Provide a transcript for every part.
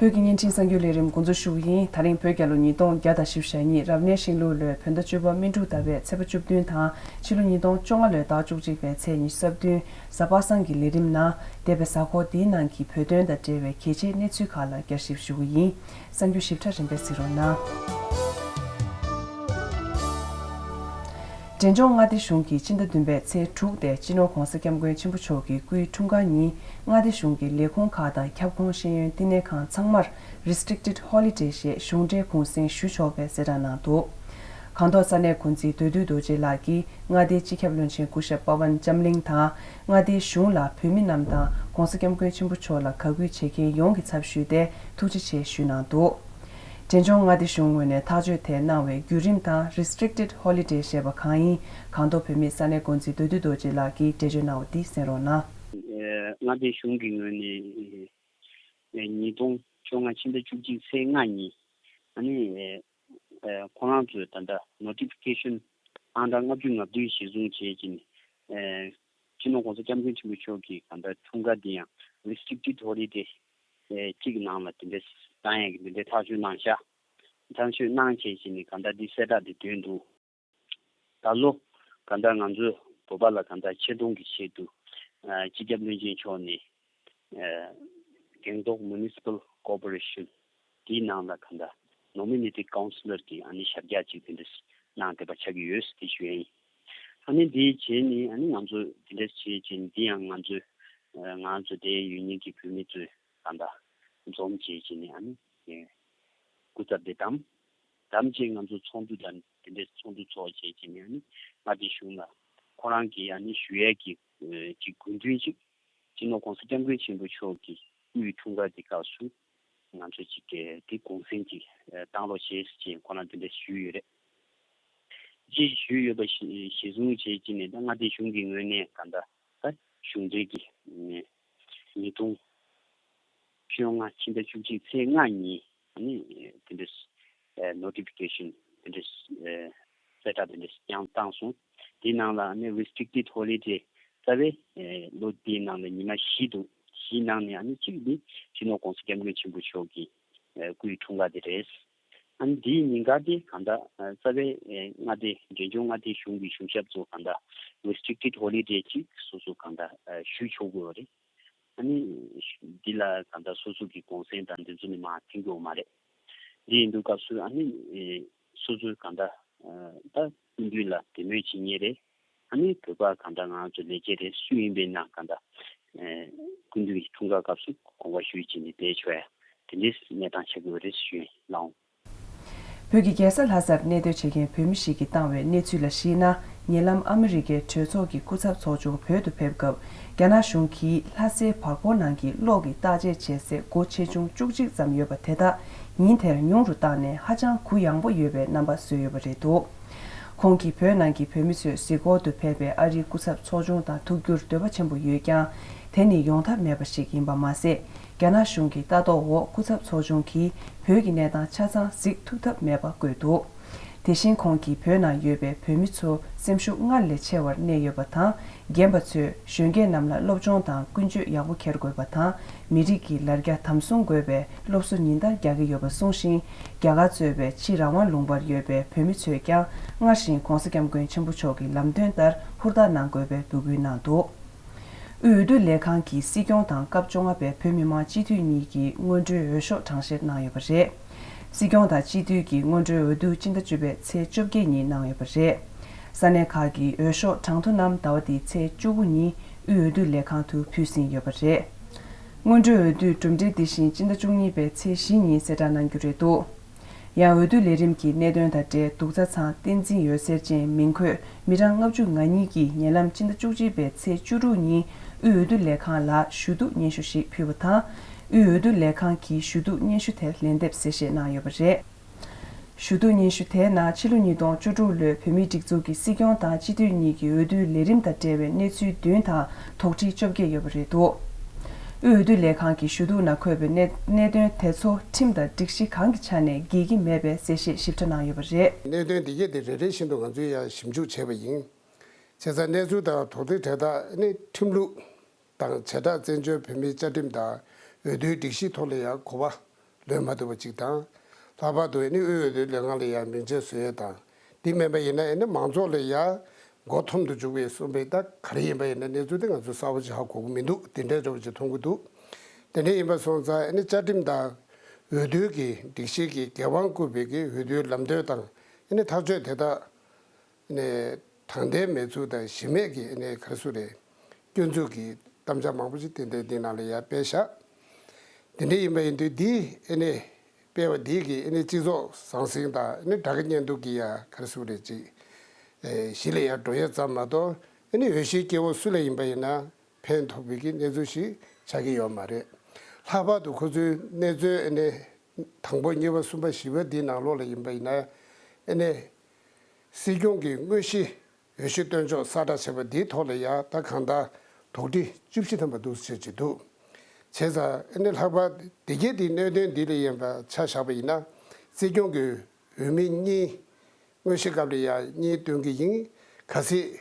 བོད་ཀྱི་བརྙན་འཕྲིན་གསར་འགྱུར་ལས་རིམ་འགོ་འཛུགས་ཞུ་བ་ཡིན་ད་རིང་བོད་རྒྱ་ལོ་ཉིས་སྟོང་བརྒྱ་དང་བཞི་བཞི་ཞག་གཉིས་རབ་གནས་ཤིང་ལུགས་ལོའི་བོད་ཟླ་བཅུ་པ་སྨིན་དྲུག་ཟླ་བའི་ཚེས་པ་བཅུ་བདུན་དང་ཕྱི་ལོ་ཉིས་སྟོང་བཅོ་ལྔ་ལོའི་ཟླ་བཅུ་གཅིག་པའི་ཚེས་ཉི་ཤུ་རྩ་བདུན་གཟའ་པ་སངས་ཀྱི་ལས་རིམ་ནང་འདས་པའི་གཟའ་འཁོར་འདིའི་ནང་གི་བོད་དོན་དང་འབྲེལ་བའི་གལ་ཆེའི་གནས་ཚུལ་ཁག་ལ་བསྐྱར་ཞིབ་ཞུ་བ་ཡིན་གསང་རྒྱུད་ཞིབ་ཕྲ་རིམ་པས་གཟིགས་རོགས་གནང། འབྲས་ལྗོངས་མངའ་སྡེ་གཞུང་གིས་སྤྱི་ཟླ་བདུན་པའི་ཚེས་དྲུག་སྟེ་སྤྱི་ནོར ྋགོང་ས ྋསྐྱབས་མགོན་ཆེན་པོ་མཆོག་གི་སྐུའི་འཁྲུངས་སྐར་ཉིན་མངའ་སྡེ་གཞུང་གི་ལས་ཁུངས་ཁག་དང་ཁྱབ་ཁོངས་ཤེས་ཡོན་བསྟི་གནས་ཁང་ཚང་མར Restricted Holiday ཞེས་གཞུང་འབྲེལ་གུང་གསེང་ཞུ་ཆོག་པའི་གསལ་བསྒྲགས་གནང་འདུག། ཁང་ཐོག་ས་གནས་ཀུན་གཟིགས་འདོད་དུས་རྡོ་རྗེ་ལགས་ཀྱིས་མངའ་སྡེའི་སྤྱི་ཁྱབ་བློན་ཆེན་སྐུ་ཞབས་པ་ཝན་ལྕམ་གླིང་དང། མངའ་སྡེའི་གཞུང་ལ་བོད་མི་རྣམས་དང ྋགོང་ས ྋསྐྱབས་མགོན་ཆེན་པོ་མཆོག་ལ་ག་གུས་བྱེད་མཁན་ཡོངས་ཀྱི་ཚབ་ཞུས་ཏེ་ཐུགས་རྗེ་ཆེ་ཞུས་གནང་འདུག་འབྲས་ལྗོངས་མངའ་སྡེ་གཞུང་ངོས་ནས་ཐག་གཅོད་དེ་གནང་བའི་བརྒྱུད་རིམ་དང Restricted Holiday ཞེས་པ་གང་ཡིན་གང་ཐོག་བོད་མི་ས་གནས་འགོ་འཛིན་འདོད་འདུན་རྡོ་རྗེ་ལགས་ཀྱིས་འགྲེལ་བརྗོད་གནང་བ་འདི་གསན་རོགས་གནང། མངའ་སྡེ་གཞུང་གི་ངོས་ནས་ཉིས་སྟོང་བཅོ་ལྔ་ཕྱི་ཟླ་བཅུ་གཅིག་ཚེས་ལྔ་ཉིན། ཁོ་རང་ཚོས་ད་ལྟ Notification ཨང་གྲངས་ལྔ་བཅུ་ང་བདུན་གཞིར་བཟུང་བྱེད་ཀྱིན། སྤྱི་ནོར་གོང་ས་སྐྱབས་མགོན་ཆེན་པོ་མཆོག་གིས་གང་ལྟར་འཁྲུངས་སྐར་འདི་ཡང Restricted Holiday གཅིག་གི་ནང་ལ་དེ་འདྲའི་བཟང་ཡང་གི་དེ་འདྲའི་ཐག་གཅོད་གནང་ཤག། ཐག་གཅོད་གནང་བྱེད་ཀྱིན་གང་ལྟར་འདི་གསལ་བསྒྲགས་འདི་བཏོན་འདུག། ད་ལོ། གང་ལྟར་ང་ཚོས་བོད་པ་ལ་གང་ལྟར་ཆེ་མཐོང་གི་ཆེད་དུ། སྤྱི་ཁྱབ་བློན་ཆེན་མཆོག་ནས། གེང་ཏོག Municipal Corporation དེའི་ནང་ལ་གང་ལྟར Nominated Councillor གྱི་ཨ་ནི་ཞབས་རྒྱག་ཅིག་དེ་འདྲས་གནང་བསྡད་པ་ཆགས་ཀྱི་ཡོད་དེ་བཞིན། ཨ་ནི་དེའི་རྗེས་ནས་ཨ་ནི་ང་ཚོས་དེ་འདྲས་བྱས་རྗེས་འདི་ཡང་ང་ཚོས། ང་ཚོ་དེ་ཡུལ་གཉིས་ཀྱི་བོད་མི་ཚོས་གང་ལྟར་འཛོམས་བྱས་རྗེས་ནས་ཨ་ནི། སྐུ་ཚབ་དེ་དང། དམ་བཅས་ང་ཚོ་ཚོགས་འདུ་དང་དེ་འདྲའི་ཚོགས་འདུ་ཚོགས་བྱེད་ཅེས་ནས་ནི་མངའ་སྡེ་གཞུང་ལ་ཁོང་རང་གི་ཡང་ནི་ཞུ་ཡས་ཀྱི་གཅིག་དགོས་འདུན་གཅིག་སྤྱི་ནོར ྋགོང་ས ྋསྐྱབས་མགོན་ཆེན་པོ་མཆོག་གི་དབུས་འོས་འཁྲུངས་སྐར་གྱི་སྐབས་སུ་ང་ཚོ་གཅིག་གལ་ཏེ་དགོངས་སེམས་གཅིག་བཏང་རོགས་བྱེད་ཅེས་ཁོང་རང་དེ་འདྲ་ཞུས་ཡོད་རེད། ཅེས་ཞུས་ཡོད་པ་གཞི་བཟུང་བྱས་ཀྱི་ནས་ད་མངའ་སྡེ་གཞུང་གི་ངོས་ནས་ག་འདྲ་ལྟར་གཞུང་འབྲེལ་གྱི་ཉིས་སྟོང་ཕྱི་ལོ་སྔ་ཕྱི་ཟླ་བཅུ་གཅིག་ཚེས་ལྔ་ཉིན་དེ་འདྲའི Notification དེ་འདྲའི་གསལ་བསྒྲགས་དེ་འདྲ་ཞིག་ཀྱང་བཏང་སོང། དེའི་ནང་ལ Restricted Holiday རྩ་བའི་ལོ་དེའི་ནང་ལ་ཉི་མ་བཞི་འདུག་བཞིའི་ནང་ནས་གཅིག་ནི་སྤྱི་ནོར ྋགོང་ས ྋསྐྱབས་མགོན་ཆེན་པོ་མཆོག་གི་སྐུའི་འཁྲུངས་སྐར་དེ་རེད། དེའི་ཉིན་སྐར་དེ་གང་དག་རྩ་བའི་མངའ་སྡེ་འབྲས་ལྗོངས་མངའ་སྡེའི་གཞུང་གི་གཞུང་ཞབས་ཚོ་གང་དག Restricted Holiday གཅིག་སོ་སོ་གང་དག་ཞུས་ཆོག་དགོས་པ་རེད། ད་ནི་འདི་ལ་གང་ལྟར་སོ་སོ་གི་གོང་སེང་དང་འདི་ཚོ་ནི་མ་མཐུན་གི་འོ་མ་རེད། འདི་ཡིན་འདུག་སྐབས་སུ་ཨ་ནི་སོ་སོ་གང་ལྟར་ད་སྐུ་མདུན་ལ་དད་མོས་བྱེད་ངེས་རེད། ཨ་ནི་བོད་པ་གང་ལྟར་ང་ཚོ་ལས་བྱེད་རེད་སུ་ཡིན་པའི་ན་གང་ལྟར་སྐུ་མདུན་གྱི་འཁྲུངས་སྐར་སྐབས་སུ་དགོངས་པ་ཞུས་བྱས་ནས་བསྡད་ཆོག་ཡ་དེ་འདྲའི་གནས་སྟངས་ཆགས་ཀྱི་འོ་རེད་ཞུས་ལངས། བོད་ཀྱི་རྒྱལ་ས་ལྷ་སར་གནས་སྡོད་བྱེད་མཁན་བོད་མི་ཞིག་གིས་བཏང་བའི་གནས་ཚུལ་ལ་གཞིགས་ན་ཉེ་ལམ་ཨ་མི་རི་ཀའི་གྲོས་ཚོགས་ཀྱི་སྐུ་ཚབ་ཚོགས་ཆུང་བོད་དུ་ཕེབས་སྐབས་རྒྱ་ནག་གཞུང་གིས་ལྷ་སའི་བར་སྐོར་ནང་གི་གློག་གི་བརྟག་དཔྱད་བྱེད་སའི་སྒོ་ཆེ་ཆུང་བཅུ་གཅིག་ཙམ་ཡོད་པ་དེ་དག་ཉིན་དེར་ཉུང་རུ་བཏང་ནས་ཧ་ཅང་གུ་ཡངས་པོ་ཡོད་པའི་རྣམ་པ་བཟོས་ཡོད་པ་རེད་འདུག་ཁོང་གིས་བོད་ནང་གི་བོད་མི་ཚོས་གཟིགས་སྐོར་དུ་ཕེབས་པའི་ཨ་རིའི་སྐུ་ཚབ་ཚོགས་ཆུང་དང་ཐུག་རྒྱུར་འདོད་པ་ཆེན་པོ་ཡོད་ཀྱང་དེ་ནི་ཡོང་ཐབས་མེད་པ་ཞིག་ཡིན་པ་མ་ཟད་རྒྱ་ནག་གཞུང་གི་ལྟ་རྟོག་འོག་སྐུ་ཚབ་ཚོགས་ཆུང་གིས་བོད་ཀྱི་གནས་སྟངས་ཆ་ཚང་གཟིགས་ཐུབ་ཐབས་མེད་པ་བཀོད་འདུག་དེ་བཞིན་ཁོང་གིས་བོད་ནང་ཡོད་པའི་བོད་མི་ཚོ་སེམས་ཤུགས་སྔར་ལས་ཆེ་བར་གནས་ཡོད་པ་དང་རྒན་པ་ཚོས་གཞོན་སྐྱེས་རྣམས་ལ་སློབ་སྦྱོང་དང་ཀུན་སྤྱོད་ཡག་པོ་འཁྱེར་དགོས་པ་དང་མི་རིགས་ཀྱི་ལར་རྒྱ་དམ་སྲུང་དགོས་པའི་སློབ་གསོ་ཉིན་ལྟར་རྒྱག་གི་ཡོད་པ་གསུངས་ཤིང་རྒྱ་གར་གཙོས་པའི་ཕྱི་རང་དབང་ལུང་པར་ཡོད་པའི་བོད་མི་ཚོས་ཀྱང་སྔར་བཞིན ྋགོང་ས ྋསྐྱབས་མགོན་ཆེན་པོ་མཆོག་གི་ལམ་སྟོན་ལྟར་ཧུར་ཐག་གནང་དགོས་པའི་འབོད་སྐུལ་གནང་འདུག། དབུས་འོས་བསྡུ་ལས་ཁང་གིས་སྲིད་སྐྱོང་དང་སྐབས་བཅོ་ལྔ་པའི་བོད་མི་མང་སྤྱི་འཐུས་གཉིས་ཀྱི་སྔོན་འགྲོའི་འོས་ཤོག་གྲངས་བཤེར་གནང་ཡོད་པ་རེད། སྲིད་སྐྱོང་དང་སྤྱི་འཐུས་ཀྱི་སྔོན་འགྲོའི་འོས་བསྡུ་སྤྱི་ཟླ་བཅུ་པའི་ཚེས་བཅོ་བརྒྱད་ཉིན་གནང་ཡོད་པ་རེད། ས་གནས་ཁག་གི་འོས་ཤོག་གྲངས་ཐོ་རྣམས་ཟླ་བ་འདིའི་ཚེས་བཅུ་དགུ་ཉིན་དབུས་འོས་བསྡུ་ལས་ཁང་དུ་ཕུལ་ཟིན་ཡོད་པ་རེད། སྔོན་འགྲོའི་འོས་བསྡུའི་གྲུབ་འབྲས་འདི་བཞིན་སྤྱི་ཟླ་བཅུ་གཉིས་པའི་ཚེས་བཞི་ཉིན་གསལ་བསྒྲགས་གནང་རྒྱུ་རེད་འདུག། ཡང་འོས་བསྡུ་ལས་རིམ་གྱི་གནད་དོན་དང་འབྲེལ་གདུག་རྩ་ཚང་བསྟན་འཛིན་ཡོད་སེར་ཅན་མིང་འཁོད་མི་གྲངས་ལྔ་བཅུ་ང་གཉིས་ཀྱིས་ཉེ་ལམ་སྤྱི་ཟླ་བཅུ་གཅིག་པའི་ཚེས་བཅུ་དྲུག་ཉིན་དབུས་འོས་བསྡུ་ལས་ཁང་ལ་ཞུ་གཏུག་སྙན་ཞུ་ཞིག་ཕུལ་བ་དང། དབུས་འོས་བསྡུ་ལས་ཁང་གིས་ཞུ་གཏུག་སྙན་ཞུ་དེར་ལན་འདེབས་གསལ་བཤད་གནང་ཡོད་པ་རེད། ཞུ་གཏུག་སྙན་ཞུ་དེའི་ནང་ཕྱི་ལོ་ཉིས་སྟོང་བཅུ་དྲུག་ལོའི་བོད་མིའི་སྒྲིག་འཛུགས་ཀྱི་སྲིད་སྐྱོང་དང་སྤྱི་འཐུས་གཉིས་ཀྱི་འོས་བསྡུའི་ལས་རིམ་དང་འབྲེལ་བའི་གནས་ཚུལ་བདུན་དང་དོགས་འདྲི་བཅོ་བརྒྱད་ཡོད་པ་རེད་འདུག་དབུས་འོས་བསྡུ་ལས་ཁང་གི་ཞུ་གཏུག་ནང་འཁོད་པའི་གནད་དོན་དེ་ཚོ་ཁྲིམས་དང་སྒྲིག་གཞི་གང་གི་ཆ་ནས་འགལ་གྱི་མེད་པའི་གསལ་བཤད་ཞིབ་ཕྲ་གནང་ཡོད་པ་རེད། གནད་དོན་འདི་གལ་ཏེ་རེ་རེ་བཞིན་དུ་ང་ཚོས་ཡང་ཞིབ་འཇུག་བྱས་པ་ཡིན་ཚེ་ས་གནས་ཚུལ་དང་དོགས་འདྲི་གྲལ་དག་ནི་ཁྲིམས་ལུགས་དང་བྱེ་བྲག་བཙན་བྱོལ་བོད་མིའི་བཅའ་ཁྲིམས་དང་འོས་བསྡུའི་སྒྲིག་གཞིའི་ཐོག་ལ་ཡང་གོ་བ་ལོན་མ་ཐུབ་པ་གཅིག་དང། ལྷག་པར་དུ་ཨེ་ནི་དབུས་འོས་བསྡུའི་ལས་ཁང་ལ་ཡང་མིང་ཆད་བཟོས་ཡོད་དང། འདི་མེད་པ་ཡིན་ན་ཨེ་ནི་མང་ཚོགས་ལ་ཡང་མགོ་འཐོམ་དུ་འཇུག་པའི་གསུང་པའི་རྟགས་ག་རེ་ཡིན་པ་ཡིན་ན་གནས་ཚུལ་དེ་ང་ཚོས་གསལ་བོ་ཅི་ཧ་གོ་གི་མི་འདུག་དེ་འདྲའི་ཅོག་ཅིག་མཐོང་གི་འདུག་དེ་འདྲ་ཡིན་པ་སོང་ཙང་ཨེ་ནི་བཅའ་ཁྲིམས་དང། འོས་བསྡུའི་གི་སྒྲིག་གཞིའི་གི་འགན་དབང་བསྐུར་བའི་གི་འོས་བསྡུའི་ལམ་སྟོན་དང་ཨེ་ནི་ཐག་གཅོད་དེ་དག་ནས་དྲང་བདེན་མེད་ཚུལ་དང་གཞི་མེད་ཀྱི་གནས་ཁ་སུ་རེད། སྐྱོན་འཛུགས་ཀྱི་གཏམ་འཆལ་མང་པོ་ཞིག་ཏན་ཏན་འདི་ནང་ལ་ཡར་སྤེལ་བཞག་དེ་འདྲ་ཡིན་པ་ཡིན་དུས་འདིའི་གནས་སྤེལ་བ་འདིས་ཀྱི་གནས་སྤྱི་ཚོགས་ཟང་ཟིང་དང་སྦྲགས་ཀྱི་གཉེན་སྡུག་གི་ཡ་ཁར་སུ་རེད་ཅིག་གཞི་ལས་ཡར་འགྲོ་ཡས་ཙམ་མ་གཏོགས་འོས་གཞིའི་སྐྱེ་བོ་སུ་ལ་ཡིན་པ་ཡིན་ན་ཕན་ཐོགས་ཕོད་ཀྱི་གནས་ཚུལ་ཞིག་ཆགས་ཀྱི་ཡོད་མ་རེད། ལྷག་པར་དུ་ཁོ་ཚོའི་གནས་ཚུལ་དང་པོ་གཉིས་པ་གསུམ་པ་བཞི་པ་འདི་ནང་ལོགས་ལ་ཡིན་པ་ཡིན་ན། སྲིད་སྐྱོང་གིས་དངོས་གཞིའོད་ཤུལ་བཏོན་ཕྱོགས་གསར་བསྒྲགས་བྱས་པ་འདིའི་ཐོག་ལ་ཡང་ད་གང་ལྟར་དོགས་འདྲི་བཅུ་བཞི་ཐམ་པ་འདུག་ཟེར་གྱི་འདུག་བྱས་ཙང་ཨེ་ནི་ལྷག་པར་སྡེ་དགེ་འདིའི་གནད་དོན་འདི་ལས་ཡན་པ་ཆ་བཞག་པ་ཡིན་ན་སྲིད་སྐྱོང་གིས་འོས་མི་གཉིས་དངོས་གཞི་སྐབས་ལ་ཡང་གཉིས་བཏོན་གྱི་ཡིན་ག་སྲིད་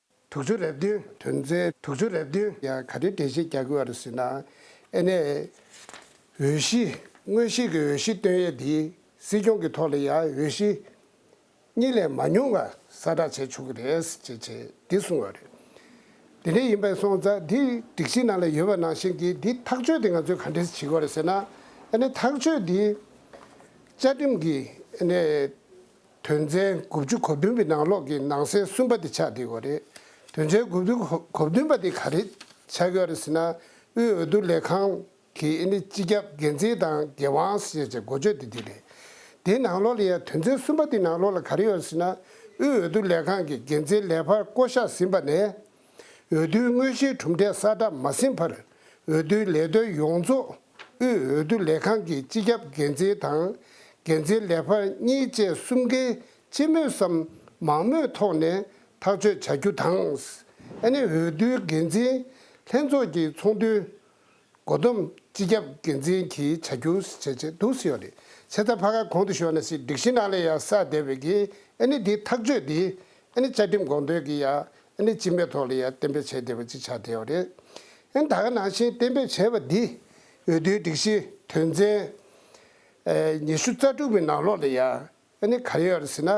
དུག་ཆུ་རེབ་བདུན་དོན་མཛད་དུག་ཆུ་རེབ་བདུན། ཡང་ག་དུས་བདེ་ཆེན་རྒྱ་མགུལ་བར་ཟིན་ན། ཨེ་ནས། འོས་གཞི། མངོན་ཤེས་ཀྱི་འོས་གཞི་བཏོན་ཡས་འདི། སྲིད་སྐྱོང་གི་ཐོག་ལ་ཡང་འོས་གཞི། གཉིས་ལས་མ་ཉུང་བ་གསལ་བསྒྲགས་བྱས་ཆོག་གི་རེད་ཅེས་བྱས་འདི་གསུངས་བ་རེད། དེ་འདྲ་ཡིན་པའི་སོང་ཙ་འདི་སྒྲིག་གཞི་ནང་ལ་ཡོད་པ་ནང་བཞིན་གྱི་འདི་ཐག་གཅོད་དེ་ང་ཚོས་ག་འདྲས་བྱེད་དགོས་རེད་ཟེར་ན། ཨེ་ནས་ཐག་གཅོད་འདི། བཅའ་ཁྲིམས་ཀྱི་ཨེ་ནས། དོན་ཚན་དགུ་བཅུ་གོ་བདུན་པའི་ནང་ལོགས་ཀྱི་ནང་གསེས་གསུམ་པ་དེ་ཆགས་བསྡད་ཡོད་རེད། དོན་ཚན་དགུ་བཅུ་གོ་བདུན་པ་དེ་ག་རེ་ཆགས་ཡོད་རེད་ཟེར་ན། དབུས་འོས་བསྡུ་ལས་ཁང་གི་ཨི་ནི་སྤྱི་ཁྱབ་འགན་འཛིན་དང་འགན་དབང་བཞེས་བྱས་འགོ་བརྗོད་དེ་དེ་རེད། དེའི་ནང་ལོགས་ལ་ཡང་དོན་ཚན་གསུམ་པ་དེ་ནང་ལོགས་ལ་ག་རེ་ཡོད་རེད་ཟེར་ན། དབུས་འོས་བསྡུ་ལས་ཁང་གི་འགན་འཛིན་ལས་འཕར་བསྐོ་གཞག་ཟིན་པ་ནས། འོས་བསྡུའི་དངོས་གཞིའི་གྲུབ་འབྲས་གསལ་བསྒྲགས་མ་ཟིན་བར་འོས་བསྡུའི་ལས་དོན་ཡོངས་རྫོགས་དབུས་འོས་བསྡུ་ལས་ཁང་གི་སྤྱི་ཁྱབ་འགན་འཛིན་དང་འགན་འཛིན་ལས་འཕར་གཉིས་བཅས་གསུམ་གའི་སྤྱི་མོས་སམ་མང་མོས་ཐོག་ནས་ཐག་གཅོད་བྱ་རྒྱུ་དང། ཨནེ་འོས་བསྡུའི་འགན་འཛིན་ལྷན་ཚོགས་ཀྱི་ཚོགས་འདུའི་འགོ་བསྡོམས་སྤྱི་ཁྱབ་འགན་འཛིན་གྱིས་བྱ་རྒྱུ། ཆེ་ཚ་ཕ་ག་གོང་དུ་ཤོར་ན་སྲིད་སྒྲིག་ཤིང་ནག་ལས་ཡ་ས་སྡེ་བའི་གིས་ཨནེ་འདི་ཐག་གཅོད་དེ་ཨནེ་བཅའ་ཁྲིམས་དགོངས་དོན་གྱི་ཡ་ཨ་ནི་སྤྱི་མའི་ཐོག་ལ་ཡང་གཏན་འབེབས་བྱས་བསྡད་པ་ཅིག་ཆགས་བསྡད་ཡོད་རེད། ཨན་ད་ག་ནང་བཞིན་གཏན་འབེབས་བྱས་པ་འདིས་འོས་བསྡུའི་སྒྲིག་གཞི་དོན་ཚན། ཉི་ཤུ་རྩ་དྲུག་པའི་ནང་ལོགས་ལ་ཡང་ཨ་ནི་ག་ཡོད་རེད་ཟེར་ན་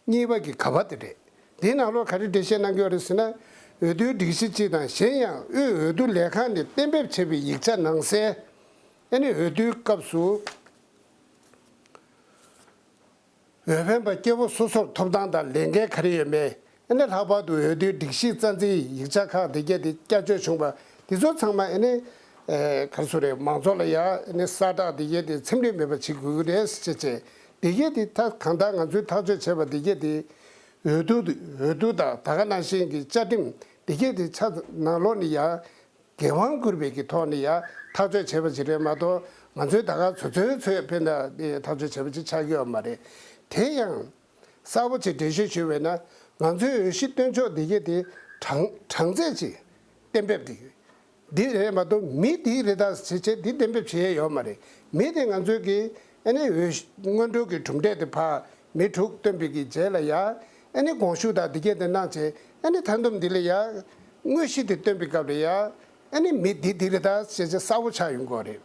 གཉིས་པ་གི་ག་བ་དེ་རེད། འདིའི་ནང་ལོགས་ག་རེ་འགྲེལ་བཤད་གནང་གི་ཡོད་རེད་ཟེར་ན། འོས་བསྡུའི་སྒྲིག་གཞི་སྤྱི་དང་གཞན་ཡང་དབུས་འོས་བསྡུ་ལས་ཁང་ནས་གཏན་འབེབས་བྱས་པའི་ཡིག་ཆ་ནང་གསལ། ཨ་ནི་འོས་བསྡུའི་སྐབས་སུ། འོས་འཕེན་པ་སྐྱེ་བོ་སོ་སོར་ཐོབ་ཐང་དང་ལས་འགན་ག་རེ་ཡོད་མེད་ཨེ་ལྷག་པར་དུ་འོས་བསྡུའི་སྒྲིག་གཞིའི་རྩ་འཛིན་ཡིག་ཆ་ཁག་འདི་བརྒྱད་དེ་བསྐྱར་བཅོས་བྱུང་པ་འདི་ཚོ་ཚང་མ་ཨེ་གར་སོ་རེད་མང་ཚོགས་ལ་ཡང་ཨེ་གསར་བསྒྲགས་འདི་བརྒྱད་དེ་ཚིམ་ལེ་མེད་པ་བྱེད་དགོས་ཀྱི་རེད་ཟེར་ཆེད་ཆེད་འདི་བརྒྱད་དེ་ད་གང་ལྟར་ང་ཚོས་ཐག་གཅོད་བྱས་པ་འདི་བརྒྱད་དེ་འོས་བསྡུ་འོས་བསྡུ་དང་ད་ག་ནང་བཞིན་གྱི་བཅའ་ཁྲིམས་འདི་བརྒྱད་དེ་ཆ་ནང་ལོག་ནས་ཡང། འགན་དབང་བསྐུར་བའི་གི་ཐོག་ནས་ཡང་ཐག་གཅོད་བྱས་པ་ཞིག་རེད་མ་གཏོགས་ང་ཚོའི་ད་ག་ཚོད་ཚོད་ཚོད་ཕེབས་ན་ཐག་གཅོད་བྱས་པ་ཅིག་ཆགས་ཀྱི་ཡོད་མ་རེད། དེ་ཡང། གསར་བོ་ཆེ་འགྲེལ་བཤད་ཞུས་བས་ན་ང་ཚོའི་འོས་གཞི་སྟོན་ཕྱོགས་འདི་གའི་དེ་གྲངས་གྲངས་ཚད་ཅིག་གཏན་འབེབས་འདི་འདི་རེད་མ་གཏོགས་མི་འདི་རེ་ད་ཟེར་བྱས་འདི་གཏན་འབེབས་བྱས་ཡས་ཡོད་མ་རེད་མི་དེ་ང་ཚོའི་གི་ཨ་ནི་འོས་སྔོན་འགྲོ་གི་གྲུབ་འབྲས་དེ་བག་མི་དྲུག་སྟོན་པའི་གི་རྗེས་ལ་ཡང། ཨེ་ནི་དགོངས་ཞུགས་དང་འདི་སྐད་དུ་སྣང་བྱེད་ཨེ་ནི་མཐར་འདོམས་འདི་ལ་ཡང། དངོས་གཞི་འདི་སྟོན་པའི་སྐབས་ལ་ཡང། ཨེ་ནི་མི་འདི་འདི་རེད་ད་བྱེད་བྱེད་གསར་བོ་ཆགས་ཡོང་དགོས་རེད།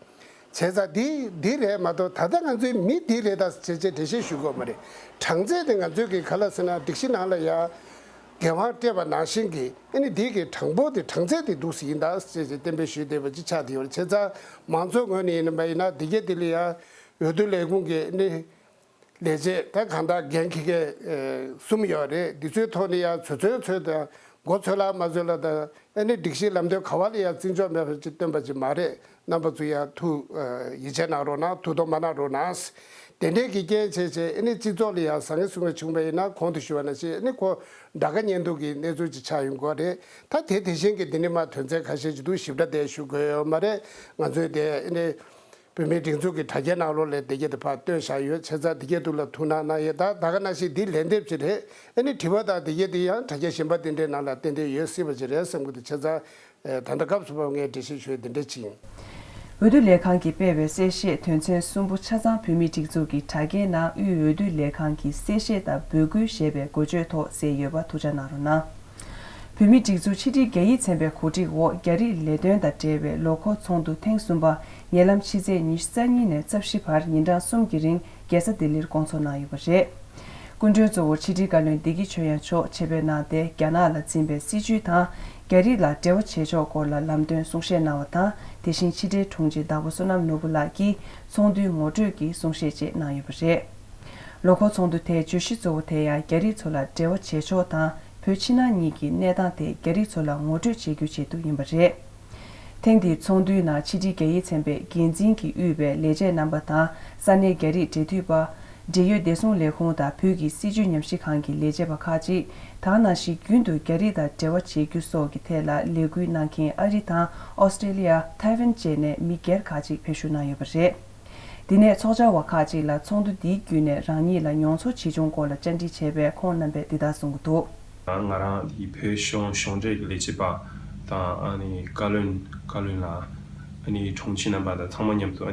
བྱེད་ས་འདི་འདི་རེད་མ་གཏོགས་ད་ལྟ་ང་ཚོའི་མི་འདི་རེད་ད་བྱེད་བྱེད་འགྲེལ་བཤད་ཞུ་དགོས་མ་རེད། གྲངས་ཚད་དེ་ང་ཚོས་གི་ག་ལ་ཟེར་ན་སྒྲིག་གཞི་ནང་ལ་ཡང། འགན་དབང་སྤྲད་པ་ནང་བཞིན་གི་ཨེ་ནི་འདི་གི་གྲངས་འབོར་དེ་གྲངས་ཚད་དེ་འདུག་ཟེར་གྱི་འདུག་བྱེད་བྱེད་གཏན་འབེབས་ཞུས་བསྡད་པ་ཅིག་ཆགས་བསྡད་ཡོད་རེད་བྱེད་ས་མང་ཚོགས་ངོས་ནས་ཡིན་ནམ་པ་ཡིན་ན་འདི་སྐད་འདི་ལ་ཡང། འོས་བསྡུ་ལས་ཁུངས་ཀྱི་ཨེ་ནི། ལས་བྱེད་ད་གང་དག་འགན་འཁི་མཁན་གསུམ་ཡོད་རེད་འདི་ཚོའི་ཐོག་ནས་ཡང་ཚོད་ཚོད་ཚོད་དང་མགོ་ཚོད་ལ་མ་ཚོད་ལ་དང་ཨེ་ནི་སྒྲིག་གཞི་ལམ་སྟོན་ག་བ་ལ་ཡང་བརྩི་འཇོག་མེད་པ་ཅིག་སྟོན་པ་ཅིག་མ་རེད་རྣམ་པ་ཚོ་ཡང་ཐུགས་ཡིད་ཆེས་གནང་རོགས་གནང་ཐུགས་དོགས་མ་གནང་རོགས་གནང། དེ་འབྲེལ་གྱི་སྐྱེན་ཆེ་ཆེ་ཨེ་ནི་སྤྱི་ཚོགས་ལ་ཡང་བཟང་ངན་གསུང་མཁན་བྱུང་བ་ཡིན་ན་གོང་དུ་ཞུ་བ་ན་ཞིག་ཨེ་ནི་ཁོ་འདྲ་དགའ་ཉེ་འདུག་གི་གནས་ཚུལ་ཅིག་ཆགས་ཡོད་མགོ་རེད་ད་དེ་དེ་བཞིན་གྱི་འདི་ནི་མ་དོན་ཚན་ག་ཤེད་ཅིག་འདུག་ཞིབ་ཕྲ་དེ་ཞུ་དགོས་ཡོད་མ་རེད་ང་ཚོས་དེ་ཨེ་ནི། བོད་མིའི་སྒྲིག་འཛུགས་ཀྱི་དྲ་རྒྱའི་ནང་ལོ་ལེགས་བདེ་སྐྱིད་དུ་ཕར་བཏོན་བཞག་ཡོད་ཚེ་ཚ་འདི་སྐད་དུ་ལ་ཐུག་ན་གནང་ཡས་དག་ད་ག་ན་ཞིག་འདི་ལན་འདེབས་ཅི་རེད་ཨེ་ནི་དྲི་བ་དག་འདི་སྐད་དུ་ཡང་དྲ་རྒྱ་གཞན་པ་དེ་འདྲའི་ནང་ལ་ཏན་ཏན་ཡོད་སྲིད་པ་ཅི་རེད་བསམ་གི་འདུག་ཆེ་ཚ། ད་ལྟ་སྐབས་སུ་བབ་ངས་འབྲེལ་བཤད་ཞུས་འདི་འདྲ་བྱིན། འོས་བསྡུ་ལས་ཁང་གིས་སྤེལ་བའི་གསལ་བཤད་དོན་ཚན་གསུམ་པོ་ཆ་ཚང་བོད་མིའི་སྒྲིག་འཛུགས་ཀྱི་དྲ་རྒྱའི་ནང་དབུས་འོས་བསྡུ་ལས་ཁང་གི་གསལ་བཤད་དང་འབོད་སྐུལ་ཞེས་པའི་འགོ་བརྗོད་ཐོག་གསལ་ཡོད་པ་ཐུགས་ཆ་གནང་རོགས་གནང། བོད་མིའི་སྒྲིག་འཛུགས་ཕྱི་དྲིལ་རྒྱ་ཡིག་ཚན་པའི་གོ་སྒྲིག་འོག་རྒྱ་རིགས་ལས་དོན་དང་འབྲེལ་བའི་ལོ་འཁོར་ཚོགས་འདུ་ཐེངས་གསུམ་པ་ཉེ་ལམ་ཕྱི་ཚེས་ཉི་ཤུ་རྩ་གཉིས་ནས་རྩ་བཞི་བར་ཉིན་གྲངས་གསུམ་གྱི་རིང་རྒྱལ་ས་ལྡི་ལིར་སྐོང་ཚོགས་གནང་ཡོད་པ་རེད། སྐུ་མགྲོན་གཙོ་བོར་ཕྱི་དྲིལ་བཀའ་བློན་བདེ་སྐྱིད་ཆོས་དབྱངས་མཆོག་ཆེད་ཕེབས་གནང་སྟེ་རྒྱ་ནག་ལ་འཛིན་པའི་སྲིད་བྱུས་དང་རྒྱ་རིགས་ལ་འབྲེལ་བ་བྱེད་ཕྱོགས་སྐོར་ལ་ལམ་སྟོན་གསུང་བཤད་གནང་བ་དང་དེ་བཞིན་ཕྱི་དྲིལ་དྲུང་ཆེ་བདག་པོ་བསོད་ནམས་ནོར་བུ་ལགས་ཀྱིས་ཚོགས་འདུའི་ངོ་སྤྲོད་ཀྱི་གསུང་བཤད་བཅས་གནང་ཡོད་པ་རེད། ལོ་འཁོར་ཚོགས་འདུ་དེའི་བརྗོད་གཞི་གཙོ་བོ་དེ་ཡང་རྒྱ་རིགས་ཚོ་ལ་འབྲེལ་བ་བྱེད་ཕྱོགས་དང་བོད་ཕྱི་ནང་གཉིས་ཀྱི་གནས་སྟངས་དེ་རྒྱ་རིགས་ཚོ་ལ་ངོ་སྤྲོད་བྱེད་རྒྱུ་བྱེད་འདུག་ཡིན་པ་རེད། ཐེངས་འདིའི་ཚོགས་འདུའི་ནང་ཕྱི་དྲིལ་རྒྱ་ཡིག་ཚན་པའི་འགན་འཛིན་གྱིས་དབུས་པའི་ལས་བྱེད་རྣམ་པ་དང་ས་གནས་རྒྱ་རིགས་འབྲེལ་མཐུད་པ། འབྲེལ་ཡོད་བདེ་སྲུང་ལས་ཁུངས་དང་བོད་ཀྱི་སྲིད་བྱུས་ཉམས་ཞིབ་ཁང་གི་ལས་བྱེད་པ་ཁག་ཅིག་དང་ནང་བཞིན་རྒྱུན་དུ་རྒྱ་རིགས་དང་འབྲེལ་བ་བྱེད་རྒྱུ་སོགས་ཀྱི་ཐད་ལ་ལས་འགུལ་གནང་མཁན་ཨ་རི་དང་ཨོ་སི་ཏྲེ་ལི་ཡ། Taiwan། བཅས་ནས་མི་སྒེར་ཁག་ཅིག་ཕེབས་བཞུགས་གནང་ཡོད་པ་རེད། དེ་ནས་ཚོགས་བཅར་བ་ཁག་ཅིག་ལ་ཚོགས་འདུ་འདིའི་བརྒྱུད་ནས་རང་ཉིད་ལ་མྱོང་ཚོར་ཇི་བྱུང་སྐོར་ལ་བཅར་འདྲི་བྱས་པས་ཁོང་རྣམ་པས་འདི་ལྟར་གསུངས་ཀྱི་འདུག། ང་རང་གིས་བོད་གཞུང་གཞུང་འབྲེལ་གྱི་ལས་བྱེད་པ་དང་བཀའ་བློན་བཀའ་བློན་ལ་དྲུང་ཆེ་རྣམ་པ་དང་ཚང་མ་མཉམ་དུ་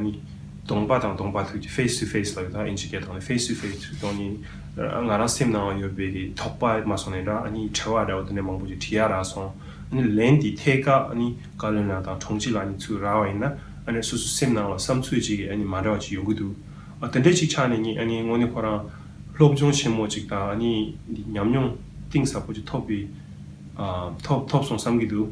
གདོང་པ་དང་གདོང་པ་ཐུག་ཀྱི Face to Face ལ་ཡོད་དང་ཨིན་ཇི་སྐད་དང Face to Face ཐུག་དོན་ནི་ང་རང་སེམས་ནང་ཡོད་པའི་དོགས་པ་མ་སོང་ནས་འདྲ་ཁྲེལ་བ་འདྲ་བོ་དེ་འདྲ་མང་པོ་ཞིག་དྲིས་ཡ་རག་སོང། ལན་དེའི་ཐད་ཀ་བཀའ་བློན་ལ་དང་དྲུང་ཆེ་ལ་ཚུར་རག་བ་ཡིན་ན། ཨ་ནི་སོ་སོའི་སེམས་ནང་ལ་བསམ་ཚུལ་གཅིག་གི་ཨ་ནི་མ་འདྲ་བ་ཅིག་ཡོང་གི་འདུག་ཨ་དེ་འདྲས་གཅིག་ཆགས་ནས་གཉིས་ཨ་ནི་དངོས་གནས་ཁོ་རང་སློབ་སྦྱོང་ཆེན་མོ་གཅིག་དང་ཨ་ནི་འདི་ཉམས་མྱོང་གཏིང་ཟབ་པོ་གཅིག་ཐོབ་པའི་ཨ་ཐོབ་ཐོབ་སོང་བསམ་གྱི་འདུག།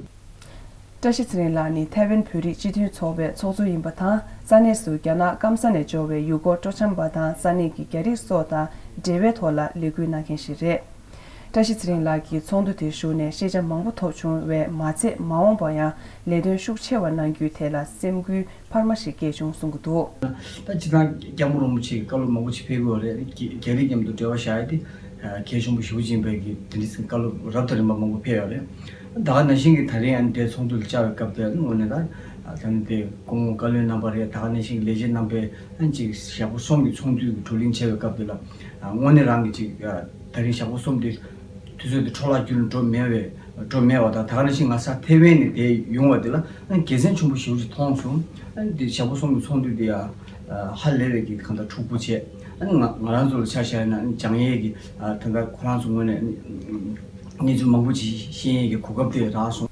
བཀྲ་ཤིས་ཚེ་རིང་ལགས་ནི་ཐའེ་ཝན་བོད་རིགས་སྤྱི་མཐུན་ཚོགས་པའི་ཚོགས་གཙོ་ཡིན་པ་དང་ས་གནས་སུ་རྒྱ་ནག་སྐམ་ས་ནས་འབྱོར་བའི་ཡུལ་སྐོར་སྤྲོ་འཆམ་པ་དང་ས་གནས་ཀྱི་རྒྱ་རིགས་སོགས་དང་འབྲེལ་བའི་ཐོག་ལ་ལས་འགུལ་གནང་མཁན་ཞིག་རེད། བཀྲ་ཤིས་ཚེ་རིང་ལགས་ཀྱིས་ཚོགས་འདུ་དེར་ཞུགས་ནས་ཤེས་བྱ་མང་པོ་ཐོབ་བྱུང་བས་མ་ཚད་མ་འོངས་པར་ཡང་ལས་དོན་ཤུགས་ཆེ་བ་གནང་རྒྱུའི་ཐད་ལ་སེམས་འགུལ་འཕར་མ་ཞིག་སྐྱེས་བྱུང་གསུང་གི་འདུག། ད་སྤྱི་ཚང་སྐྱ་མོ་རོང་པོ་ཆེ་གི་བཀའ་སློབ་མང་པོ་ཆེ་ཕེབས་ཡོད་རེད། རྒྱ་རིགས་མཉམ་དུ་འབྲེལ་བ་བཞག་ཡོད་དེ། མཁས་གཞོང་པོ་ཞི་བུ་ཅན་བོད་ཀྱི་དེ་འདྲི་ཚིག་བཀའ་སློབ་རབ་དང་རིམ་པ་མང་པོ་ཕེབས་ཡོད་རེད། ད་ག་ནང་བཞིན་གྱི་ད་རིང་ཨ་ནི་དེ་ཚོགས་འདུ་ལ་བཅར་བའི་སྐབས་དེ་དངོས་ནས་ད་ད་ནི་དེ་སྐུ་ངོ་བཀའ་བློན་གནང་པ་རེད་ད་ག་ནང་བཞིན་གྱི་ལས་བྱེད་རྣམ་པས་ཨ་ནི་གཅིག་ཞག་པོ་གསུམ་གྱི་ཚོགས་འདུའི་དྲུག་གླིང་བྱས་པའི་སྐབས་དེ་ལ། དངོས་གནས་རང་གི་ཅིག་ད་རིང་ཞག་པོ་གསུམ་དེ་དུས་ཚོད་དེ་འཕྲོ་བརླག་གྱུར་ནས་འགྲོ་མེད་བས་འགྲོ་མེད་བ་དང་ད་ནི་ཕྱིན་ང་ས་ཐེ་ཝན་ནས་བསྡད་ཡོང་བ་དེ་ལ་རྒྱལ་མཚན་ཆུང་པོ་ཞིག་ཅིག་མཐོང་བྱུང། དེ་ཞག་པོ་གསུམ་གྱི་ཚོང་འདུས་དེ་ཡང་ཧ་ལས་ལས་ཀྱིས་གང་ལྟར་འཁྲུག་པོ་བྱས། ང་ང་རང་ཚོ་ལ་ཆ་བཞག་ན་འཇང་ཡེས་ཀྱི་ད་ལྟ་ཁོ་རང་ཚོ་ངོས་ནས་གནས་ཚུལ་མང་པོ་ཇི་བཞིན་ཤེས་ཡས་ཀྱི་གོ་སྐབས་དེ་རག་སོང།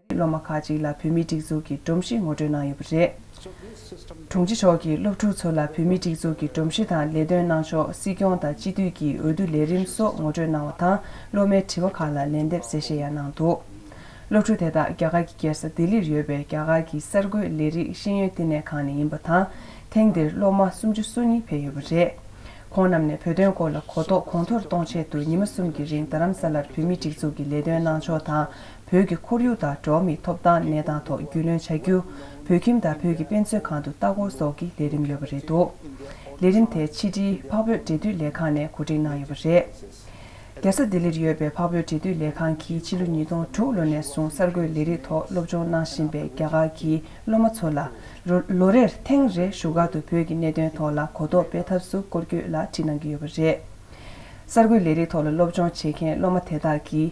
སློབ་མ་ཁག་ཅིག་ལ་བོད་མིའི་སྒྲིག་འཛུགས་ཀྱི་སྒྲོམ་གཞི་ངོ་སྤྲོད་གནང་ཡོད་པ་རེད། དྲུང་ཆེ་མཆོག་གིས་སློབ་ཕྲུག་ཚོ་ལ་བོད་མིའི་སྒྲིག་འཛུགས་ཀྱི་སྒྲོམ་གཞི་དང་ལས་དོན་གནང་ཕྱོགས་སྲིད་སྐྱོང་དང་སྤྱི་འཐུས་ཀྱི་འོས་བསྡུ་ལས་རིམ་སོགས་ངོ་སྤྲོད་གནང་བ་དང་སློབ་མའི་དྲི་བ་ཁག་ལ་ལན་འདེབས་གསལ་བཤད་ཡང་གནང་འདུག་སློབ་ཕྲུག་དེ་དག་རྒྱ་གར་གྱི་རྒྱལ་ས་ལྡི་ལིར་ཡོད་པའི་རྒྱ་གར་གྱི་གསར་འགོད་ལས་རིགས་ཤེས་ཡོན་བསྟི་གནས་ཁང་ནས་ཡིན་པ་དང་ཐེངས་འདིར་སློབ་མ་སུམ་ཅུ་སོ་གཉིས་ཕེབས་ཡོད་པ་རེད། ཁོང་རྣམས་ནས་བོད་དོན་སྐོར་ལ་གོ་རྟོགས་གོང་མཐོར་གཏོང་ཆེད་དུ་ཉི་མ་གསུམ་གྱི་རིང་རྡ་རམ་ས་ལར་བོད་མིའི་སྒྲིག་འཛུགས་ཀྱི་ལས་དོན་གནང་ཕྱོགས་དང་བོད་ཀྱི་ཁོར་ཡུག་དང་འགྲོ་བ་མིའི་ཐོབ་ཐང་གནས་སྟངས་ཐོག་རྒྱུས་ལོན་བྱ་རྒྱུ། བོད་ཁྱིམ་དང་བོད་ཀྱི་དཔེ་མཛོད་ཁང་དུ་ལྟ་སྐོར་སོགས་ཀྱི་ལས་རིམ་ཡོད་པ་རེད་འདུག་ལས་རིམ་དེ་ཕྱི་དྲིལ་འཕགས་བོད་འབྲེལ་མཐུད་ལས་ཁང་ནས་གོ་སྒྲིག་གནང་ཡོད་པ་རེད། རྒྱལ་ས་ལྡི་ལིར་ཡོད་པའི་འཕགས་བོད་འབྲེལ་མཐུད་ལས་ཁང་གིས་ཕྱི་ལོ་ཉིས་སྟོང་དྲུག་ལོ་ནས་བཟུང་གསར་འགོད་ལས་རིགས་ཐོག་སློབ་སྦྱོང་གནང་བཞིན་པའི་རྒྱ་གར་གྱི་སློབ་མ་ཚོ་ལ་ལོ་རེར་ཐེངས་རེ་བཞུགས་སྒར་དུ་བོད་ཀྱི་གནད་དོན་ཐོག་ལ་གོ་རྟོགས་སྤེལ་ཐབས་སུ་སྐོར་སྐྱོད་ལ་ཁྲིད་གནང་གི་ཡོད་པ་རེད། གསར་འགོད་ལས་རིགས་ཐོག་ལ་སློབ་སྦྱོང་བྱེད་མཁན་སློབ་མ་དེ་དག་གིས།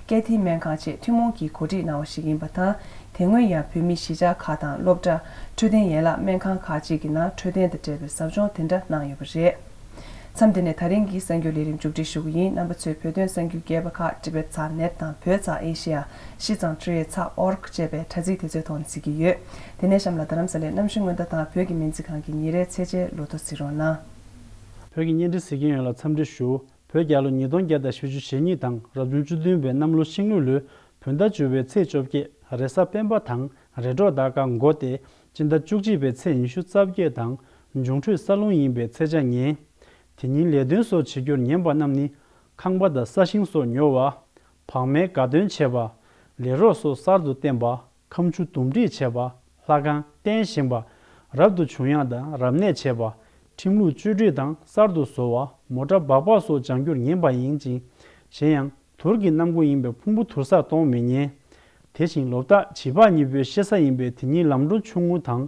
ཀེ་ཐི་སྨན་ཁང་བཅས་ཐུན་མོང་གིས་གོ་སྒྲིག་གནང་བ་ཞིག་ཡིན་པ་དང་དེ་སྔོན་ཡང་བོད་མི་གཞིས་ཆགས་ཁག་དང་སློབ་གྲྭ། འཕྲོད་བསྟེན་ཡན་ལག་སྨན་ཁང་ཁག་ཅིག་གི་ནང་འཕྲོད་བསྟེན་དང་འབྲེལ་བའི་ཟབ་སྦྱོང་དེ་འདྲ་གནང་ཡོད་པ་རེད། མཚམས་འདི་ནས་ད་རིང་གི་གསར་འགྱུར་ལས་རིམ་མཇུག་སྒྲིལ་ཞུ་གི་ཡིན་རྣམ་པ་ཚོས་བོད་དོན་གསར་འགྱུར་རྒྱས་པ་ཁག་ཏི་བེད་ཚ་ནེད་དང་བོད་ཚ་ཨེ་ཤེ་ཡ་ཤི་ཚང་ཁྲི་ཡེ་ཚ org ཅེས་པའི་དྲ་ཚིགས་དེ་ཚོའི་ཐོག་ནས་གཟིགས་ཀྱི་ཡོད། དེ་ནས་གཤམ་ལ་རྡ་རམ་ས་ལའི་གནམ་གཤིས་སྔོན་བརྡ་དང་བོད་ཀྱི་སྨན་རྩིས་ཁང་གི་ཉིན་རེའི་ཚད་འཇལ་ལོ་ཐོ་གཟིགས་རོགས་གནང། བོད་ཀྱི་བརྙན་འཕྲིན་གཟིགས་མཁན་ཡོན་ལ་འཚམས་འདྲི་ཞུ། བོད་རྒྱལ་ལོ་ཉིས་སྟོང་བརྒྱ་དང་ཞེ་བཅུ་ཞེ་གཉིས་དང་རབ་བྱུང་བཅུ་བདུན་པའི་གནམ་ལོ་ཤིང་ལུག་ལོའི་བོད་ཟླ་བཅུ་བའི་ཚེས་བཅོ་བརྒྱད་རེས་གཟའ་སྤེན་པ་དང་རེས་འགྲོགས་ཟླ་དཀར་མགོ་སྟེ་སྤྱི་ཟླ་བཅུ་གཅིག་པའི་ཚེས་ཉི་ཤུ་རྩ་བརྒྱད་དང་འབྱུང་འཕྲོད་ས་རླུང་ཡིན་པའི་ཚེས་བཅྭ་ཉེ། དེ་ཉིན་ལས་དོན་སོགས་བྱེད་རྒྱུར་ཉན་པ་རྣམས་ནི། ཁང་པ་དང་ས་ཞིང་སོགས་ཉོ་བ། བག་མའི་དགའ་སྟོན་བྱེད་པ། ལས་རོགས་སོགས་གསར་དུ་བསྟེན་པ། ཁམ་ཆུ་འདུམ་འགྲིག་བྱེད་པ། ལྷ་ཁང་རྟེན་བཞེངས་པ། རབ་ཏུ་བྱུང་ཡང་དང་རབ་གནས་བྱེད་པ། ཁྲིམས་ལུགས་བཅོས་སྒྲིག་དང་གསར་དུ་བཟོ་བ། མོ་ཏྲ་སྦག་སྦག་སོགས་ལྗང་སྒྱུར་ངན་པ་ཡིན་ཅིང། གཞན་ཡང། དུར་གྱི་གནམ་སྒོ་ཡིན་པས་ཕུང་པོ་དུར་སར་གཏོང་མི་ཉན། དེ་བཞིན་ལོ་བརྟག་བྱིས་པ་གཉིས་པོའི་གཤེད་ས་ཡིན་པས་དེ་གཉིས་ལམ་འགྲོ་ཆུང་ངུ་དང།